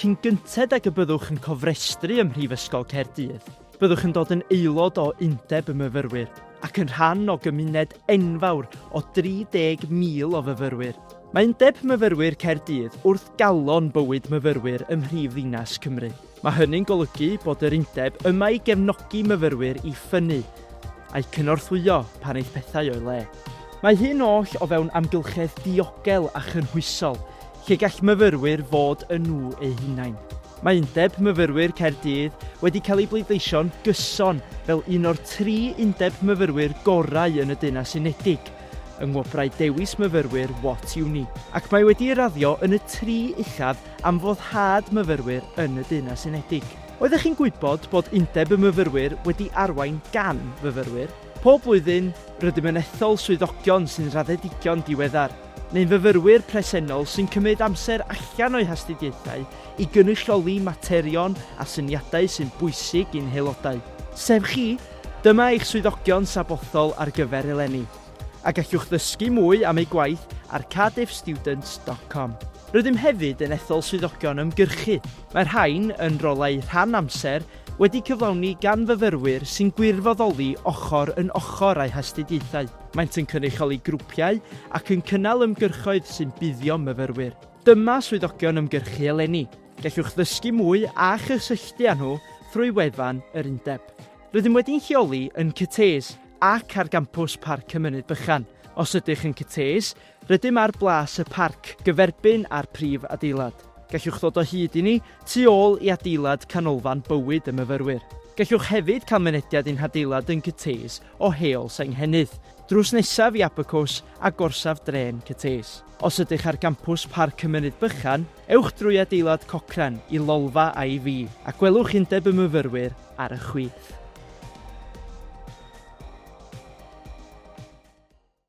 Cyn gynted ag y byddwch yn cofrestru ym Mhrifysgol Caerdydd, byddwch yn dod yn aelod o Undeb y Myfyrwyr ac yn rhan o gymuned enfawr o 30,000 o fyfyrwyr. Mae Undeb Myfyrwyr Caerdydd wrth galon bywyd myfyrwyr ym mhrif ddinas Cymru. Mae hynny'n golygu bod yr Undeb yma i gefnogi myfyrwyr i ffynnu, a'u cynorthwyo pan eith pethau o'i le. Mae hyn oll o fewn amgylchedd diogel a chynhwysol, lle gall myfyrwyr fod yn nhw eu hunain. Mae Undeb Myfyrwyr Caerdydd wedi cael ei bleidleisio'n gyson fel un o'r tri undeb myfyrwyr gorau yn y Deyrnas Unedig yng Ngwobrau Dewis Myfyrwyr What Uni, ac mae wedi ei raddio yn y tri uchaf am foddhad myfyrwyr yn y Deyrnas Unedig. Oeddech chi'n gwybod bod Undeb y Myfyrwyr wedi arwain gan fyfyrwyr? Pob blwyddyn, rydym yn ethol swyddogion sy'n raddedigion diweddar. neu'n fyfyrwyr presennol sy'n cymryd amser allan o'u hastudiaethau i gynrychioli materion a syniadau sy'n bwysig i'n haelodau, sef chi, dyma eich swyddogion sabothol ar gyfer eleni, a gallwch ddysgu mwy am eu gwaith ar cardiffstudents dot com. Rydym hefyd yn ethol swyddogion ymgyrchu, mae'r rhain yn rolau rhan amser wedi cyflawni gan fyfyrwyr sy'n gwirfoddoli ochr yn ochr â'u hastudiaethau. Maent yn cynrychioli grwpiau ac yn cynnal ymgyrchoedd sy'n buddio myfyrwyr. Dyma swyddogion ymgyrchu eleni. Gellwch ddysgu mwy a chysylltu â nhw thrwy wefan yr Undeb. Rydym wedi'n lleoli yn Cytees ac ar gampws Parc y Mynydd Bychan. Os ydych yn Cytees, Rydym ar blas y parc, gyferbyn â'r prif adeilad. Gallwch ddod o hyd i ni tu ôl i adeilad Canolfan Bywyd y Myfyrwyr. Gallwch hefyd cael mynediad i'n hadeilad yn Cytees o Heol Senghennydd, drws nesaf i Abacws a gorsaf drên Cytees. Os ydych ar gampws Parc y Mynydd Bychan, ewch drwy adeilad Cochrane i lolfa IVy a gwelwch Undeb y Myfyrwyr ar y chwith.